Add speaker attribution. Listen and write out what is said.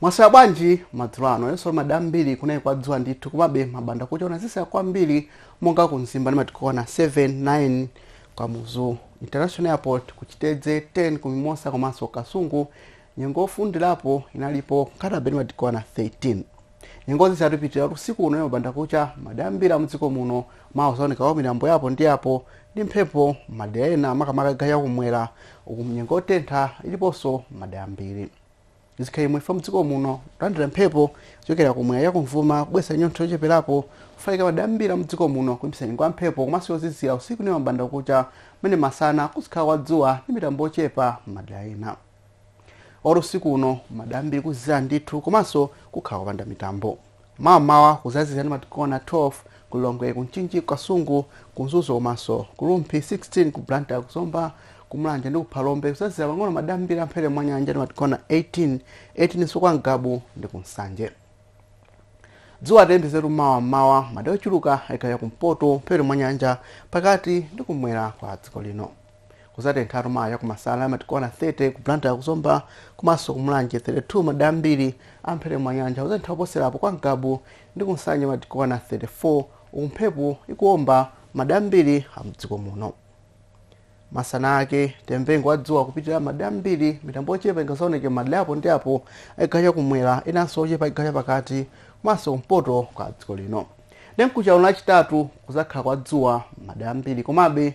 Speaker 1: mwaswera bwanji madzulo ano nonse lero madera ambiri kunali kwadzuwa ndithu komabe mmbandakucha kunazizira kwambiri monga ku mzimba ndi madigiri okwana 7 9 ku kamuzu international airport kuchitedze 10 ku mimosa komanso kasungu nyengo yofundirapo inalipo nkhata bay ndi madigiri okwana 13 nyengo yozizira ipitirira usiku uno mmbandakucha madera ambiri mdziko muno mawa kuzaoneka kwa mitambo ya apo ndi apo ndi mphepo madera ena makamaka chigawo chakumwera uku nyengo yotentha iliponso madera ambiri zikhaimwe fa mdziko muno kulandira mphepo kuchokera kumwera chakumvuma kubweretsa chinyontho chocheperapo kufika madera ambiri mdziko muno kulimbikitsa nyengo ya mphepo komanso yozizira usiku ndi mmbandakucha mmene masana kuzikhala kwa dzuwa ndi mitambo yochepa madera ena lero usiku uno madera ambiri kuzizira ndithu komanso kukhala kupanda mitambo mawa mmawa kuzazizira ndi madigiri okwana 12 ku lilongwe ku mchinji ku kasungu ku mzuzu komanso ku rumphi 16 ku blantyre ku zomba ku mulanje ndi ku phalombe kuzazizira pang'ono madera ambiri amphepete mwa nyanja ndi madigiri okwana 18 18 nso kwa ngabu ndi ku nsanje dzuwa tiyembekezere mawa mmawa madera ochuluka a chigawo cha kumpoto mphepete mwa nyanja pakati ndi kumwera kwa dziko lino kuzatenthatu mawa chakumasana ndi madigiri okwana 30 ku blantyre kuzomba komanso ku mulanje 32 madera ambiri amphepete mwa nyanja kuzatentha kuposerapo kwa ngabu ndi kunsanje ndi madigiri okwana 34 uku mphepo ikuomba madera ambiri amdziko muno masana ake nyengo ya dzuwa kupitirira madera ambiri mitambo ochepa ingazaoneke madera apo ndi apo a chigawo cha kumwera enanso ochepa a chigawo cha pakati komanso kumpoto kwa dziko lino ndiye mkucha uno lachitatu kuzakhala kwa dzuwa madera ambiri komabe